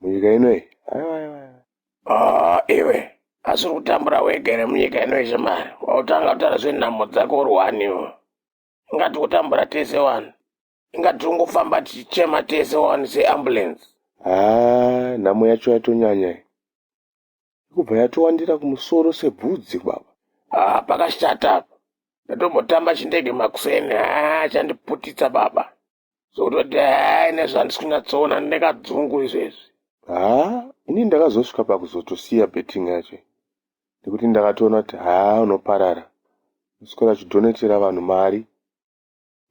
munyika ino iyi aiwa aiwa aiwa. Ah, iwe asi uri kutambura wega here munyika ino iyi shamari wautanga kutaura zvenhamo dzako uri wani iwe ingati kutambura tese wani ingati tiri kungofamba tichichema tese wani seambulance haa nhamo yacho yatonyanya iyi ikubva yatowandira kumusoro sebvudzi baba Ah, pakashata apa ndatombotamba chindege makuseni ah, chandiputitsa baba zototi haa ine zvandisi kunyatsoona ndinekadzungu izvezvi haa ini ndakazosvika pakuzotosiya betting yacho nekuti ndakatoona kuti haa unoparara uswera uchidhonetera vanhu mari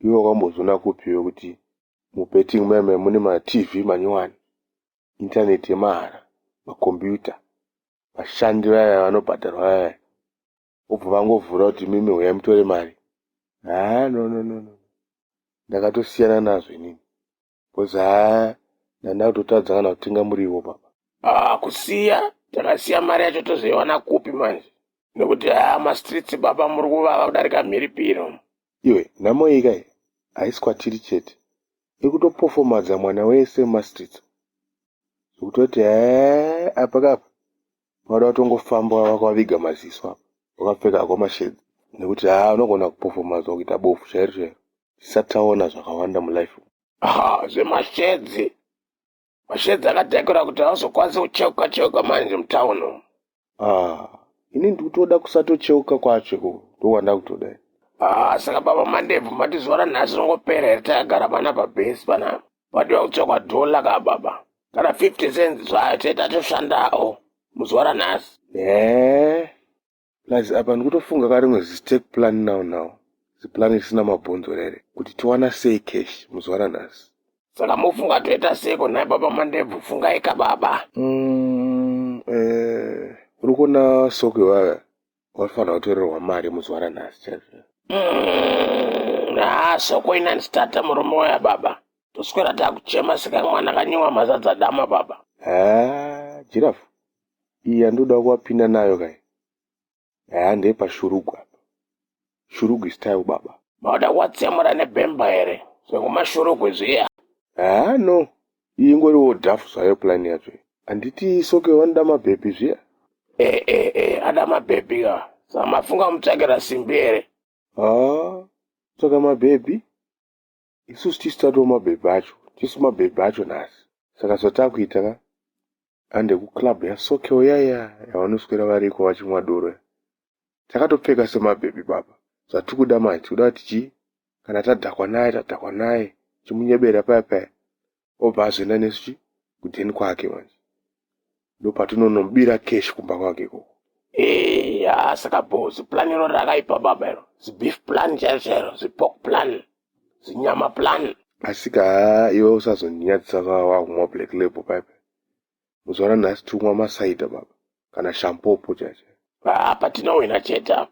iwe wakambozviona kupiwe kuti mubetting meme mune matv manyowani intaneti yemahara makombiyuta vashandi vaya vanobhadharwa vaya vobva vangovhura kuti mimi huyai mutore mari haa no no no no ndakatosiyana nazvo inini bcause haa ndanda kutotadza kana kutenga muriwo baba haa kusiya takasiya mari yacho tozoiwana kupi manje nekuti haa mastreets baba muri kuvava kudarika mhiripiro iwe nhamo iyi kai haisi kwatiri chete ikutopofomadza mwana wese mumastreets zvekutoti hee apakapa vanoda kutongofamba vakaviga maziso apa vakapfeka hako mashedzi nekuti haa unogona kupofomaza kuita bofu chairo chairo tisati taona zvakawanda mulife aha zvemashedzi mashedzi akadhakura kuti hauzokwanisi kucheuka cheuka manje mutown umu ah ini ndikutoda kusatocheuka kwacho ko ndowanda kutoda ah saka baba mandebvu mati zuva ranhasi ringopera here takagara panapa bhesi panapa patoda kutsvakwa dhola ka baba kana 50 cents zvayo tete atoshandawo muzuva ranhasi ne plus apa ndikutofunga ka rimwe zistake plan now now ziplan risina mabhonzo rere kuti tiwana sei cash muzuva ranhasi saka mofunga toita seko nhai baba mandebvu fungaika baba mm, eh, uri kuona sokwe vaya watofanira kutorerwa mari muzuva ranhasi chaizvo mm, haa soko inani stata murume waya baba toswera takuchema seka mwana kanyiwa mazadza dama baba haa jirafu iyi yandoda kuvapinda nayo kai haa ndepashurugwa Shurugu style baba. Mauda kuwatsemura nebhemba here zvekumashurugwi kwezviya. Haa no iyi ingoriwo dhafu zvayo plan yacho handiti soke wanoda mabhebhi zviya e eh, e eh, e eh, ada mabhebhi ka samafunga mutsvakira simbi here haa tsvaka mabhebhi Isusu tisu tatova mabhebha acho, tisu mabhebha acho nhasi. Saka zvatakuita ka ande kuclub yasokewo yaya yavanoswera variko vachimwa doro ya. Takatopfeka semabhebha ipapa. Zvatikuda manje tikuda kuti chii? Kana tadhakwa naye tadhakwa naye tichimunyebera paya paya. obva azoenda nesu kuden kwake manje ndopatinonomubira cash kumba kwake ikoko eya saka bo ziplan iro rakaipa baba iro zibeef plan chairo chairo zipork plan zinyama plan asika iwe usazondinyadzisa wavakuma black label paipa muzuva ranhasi tikumwa masaida baba kana shampopo chacha apa tinowina chete apa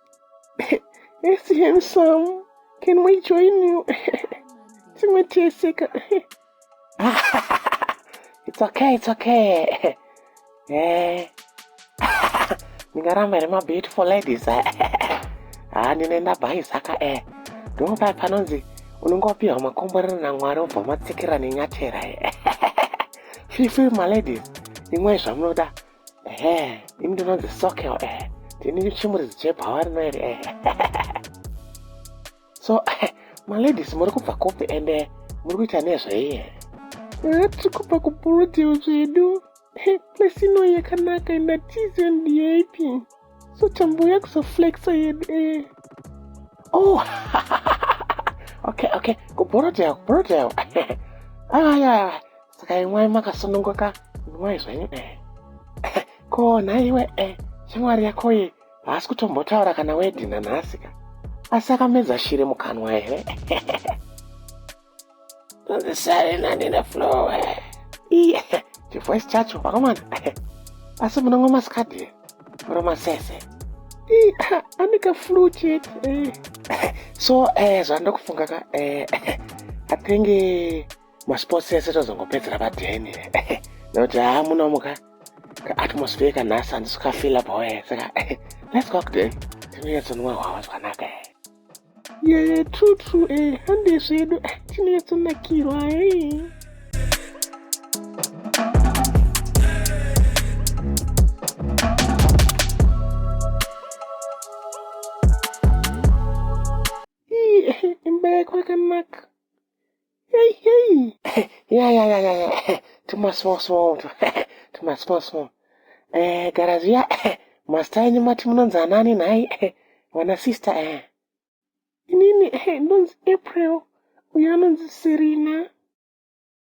It's handsome. Can we join you? Timwe tese ka. It's okay, it's okay. Eh. Ndingaramba nema beautiful ladies. Eh. Ah, ndinoenda bhayi saka eh. Ndipo paya panonzi unenge wapiwa makomborero naMwari obva matsikira nenyatera eh. Feel free my ladies. Imwe zvamunoda. ehe ini ndinonzi sokel ehe ndini chimuridzi chebhawa rino iri ehe so ehe maladies muri kubva kupi ende eh, muri kuita nezvei ehe eh, tiri kubva kuburudeal zvedu place ino yakanaka ina tizion dap so tambouya kuzoflexa yedu ehe oh okay okay kuburudeal kuburudeal aya saka imwai makasununguka imwai zvenyu e ko nhaiwe e shamwari yakoye haasi kutombotaura kana wedhina nhasi ka asi akamedza shiri mukanwa here ndozisare nani neflowe iye chivoice chacho vakomana asi munongo masikadhi muro masese aneka flu chete eh. so eh, zvandokufunga ka eh, athenge masports ese tozongopedzera padheni nekuti haa munomuka kaatmosphere kanhasi handisi kafila boe saka let's go kudheni tinoyetsonwa hwava zvakanaka e yeye true true e eh, hande zvedu eh, tinoyetsonakirwa e eh. Hey, hey. Yeah, yeah, yeah, yeah, yeah. Too much small, small. Too much small, small. Eh, garazi ya. Master yenyu mati munonzi anani nhai. Wana sister eh. Inini eh ndonzi April. Uyo anonzi Serena.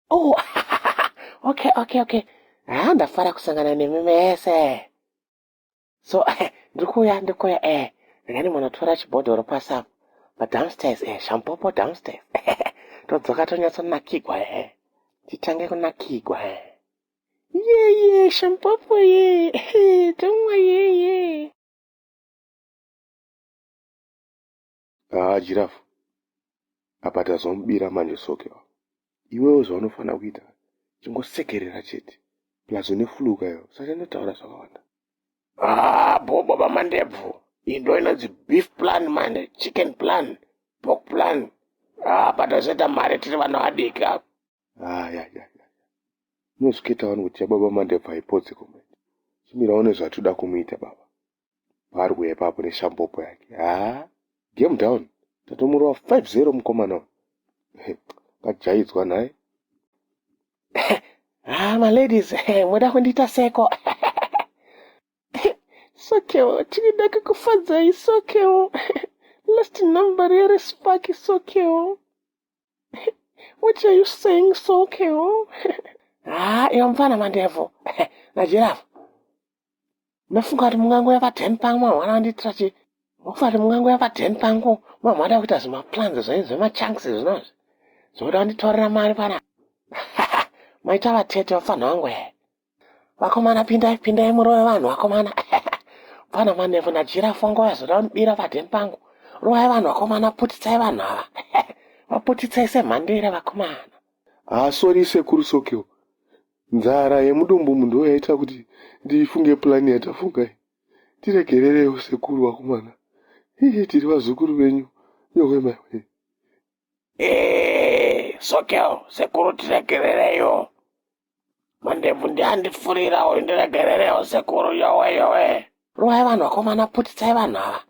Oh. okay, okay, okay. Ah, ndafara kusangana nemi mese. so eh, ndiri kuuya ndiri kuuya eh rega ndimbonotora chibhodhoro pasi apo but downstairs eh shampopo downstairs todzoka tonyatsonakigwa eh titange kunakigwa eh yeye shampopo ye tomwa yeye Haa Giraffe apa tazomubira manje Soke ava. Iwewe zvaunofanira kuita chingosekerera chete plus une flue kayo saka inotaura zvakawanda. Haa bhobo vamandebvu iyi ndo inonzi beef plan manje chicken plan pork plan haa patozoita mari tiri vana vadiki apa. Haa ya ya ya unozviketa wani kuti yababa mandebvu haipotse komrade chimirawo nezvatiri kuda kumuita baba Barwe ipapo neshambopo yake. Haa, game down. Tatomurova 5-0 mukomana uyu. Kajaidzwa nhai. Ah, my ladies, moda kundiita seko. Sokewo, tinoda kukufadzai sokewo. Last number here is Sparky Sokeo. what are you saying, Sokeo? ah, iwe mfana mandevu. Najirafu. Mafunga kuti mungango yava ten pangu mamwana andiitira chii? Mafunga kuti mungango yava ten pangu mamwana ada kuita zvimaplans zvenyu zvemachunks zvinozvi zvokuti vanditorera mari pana maita vatete vapfanha vangu here vakomana pindai pindai murove vanhu vakomana pfana manefu najira fongo vazoda kundibira paden pangu rovai vanhu vakomana putitsai vanhu ava vaputitsai semhandire vakomana ah sorry sekuru sokiwo Nzara yemudumbu umu ndiyo yaita kuti ndifunge plan yatafunga iyi. Tiregerereiwo sekuru vakomana. Hii tiri vazukuru venyu yowe maiwe. Hii Sokel sekuru tiregerereiwo. Mandebvu ndiandipfurira uyu ndiregerereiwo sekuru yowe yowe. Rovai vanhu vakomana putitsai vanhu ava.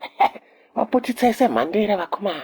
Vaputitsai semhandire vakomana.